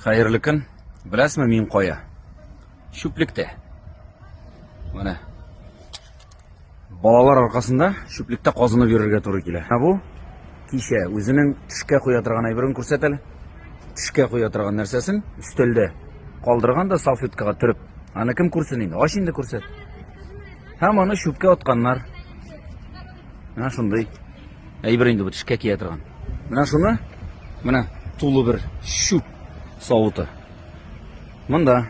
Хәерле көн. Беләсме мин кая? Чүплектә. Менә. Балалар аркасында чүплектә казынып йөрергә туры килә. Ә бу кичә үзенең төшкә куя торган әйберен күрсәт әле. Төшкә куя торган нәрсәсен өстәлдә калдырган да салфеткага төреп. Аны кем күрсен инде? Ач инде күрсәт. Һәм аны чүпкә атканнар. Менә шундый әйбер инде бу тешкә кия торган. Менә шуны, менә тулы бер чүп савыты. Монда.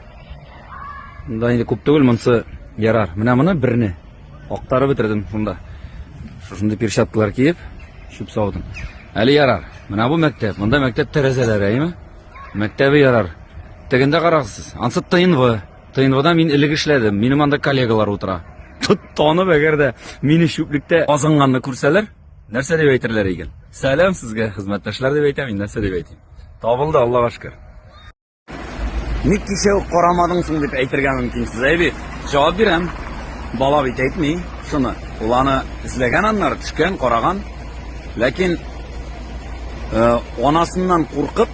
Монда инде күп түгел, монсы ярар. Менә моны берне актарып бетердем шунда. Шушындый перчаткалар киеп, чүп савытын. Әле ярар. Менә бу мәктәп. Монда мәктәп тәрәзәләре, әйме? Мәктәбе ярар. Тегендә карагыз. Ансы тыйнвы. ТНВда мин элек эшләдем, минем анда коллегалар утыра. Танып, әгәр дә мине чүплектә азынганны күрсәләр, нәрсә дип әйтерләр икән? Сәлам сезгә, хезмәттәшләр дип әйтәм, мин нәрсә дип әйтим? Табылды, Аллага шөкер. Ник кичә үк карамадың соң дип әйтергә мөмкин сез, әйби. Җавап бирәм. Бала бит әйтми шуны. Ул аны эзләгән аннары, төшкән, караган. Ләкин э, анасыннан куркып,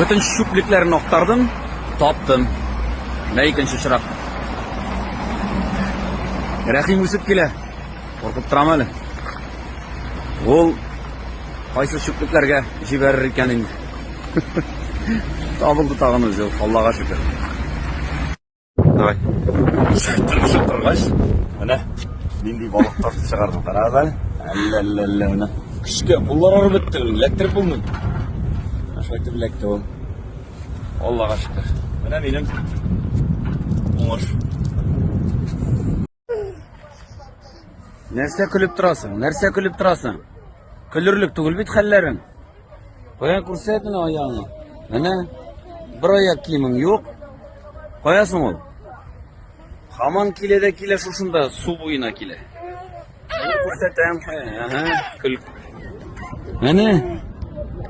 Бөтен чүплекләрен актардым, таптым. Менә икенче очрак. Рәхим үсеп килә. Куркып торам әле. Ул кайсы чүплекләргә җибәрер икән инде. Табылды тагын үзе, Аллага шөкер. Давай. Тырышып торгач, менә нинди балык тартып чыгардым. Кара да. Әллә әллә әллә менә. Көчкә куллар арып бетте. Эләктереп булмый. Шулай итеп эләкте ул. Аллага шөкер. Менә минем уңыш. Нәрсә көлеп торасың? Нәрсә көлеп торасың? Көлерлек түгел бит хәлләрең. Кая күрсәт менә аягыңны. Менә бер аяк киемең юк. Кая соң ул? Хаман килә дә килә шушында су буена килә. Күрсәтәм. Ага, көл. Менә.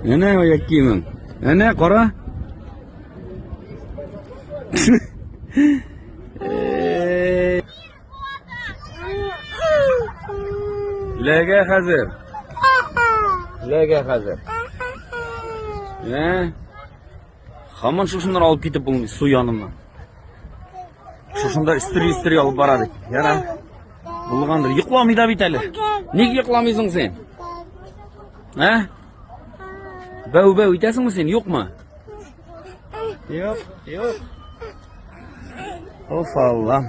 Менә аяк киемең. Менә кара. Ләгә хәзер. Ләгә хәзер. Ә? Хаман шушыннан алып китеп булмый су яныннан. Шушында истри-истри алып бара бит. Яра. Булгандыр. Йокламый да бит әле. Ник йокламыйсың син? Ә? Бәү-бәү итәсеңме син? Юкмы? Йоп, йоп. Оф, Аллам.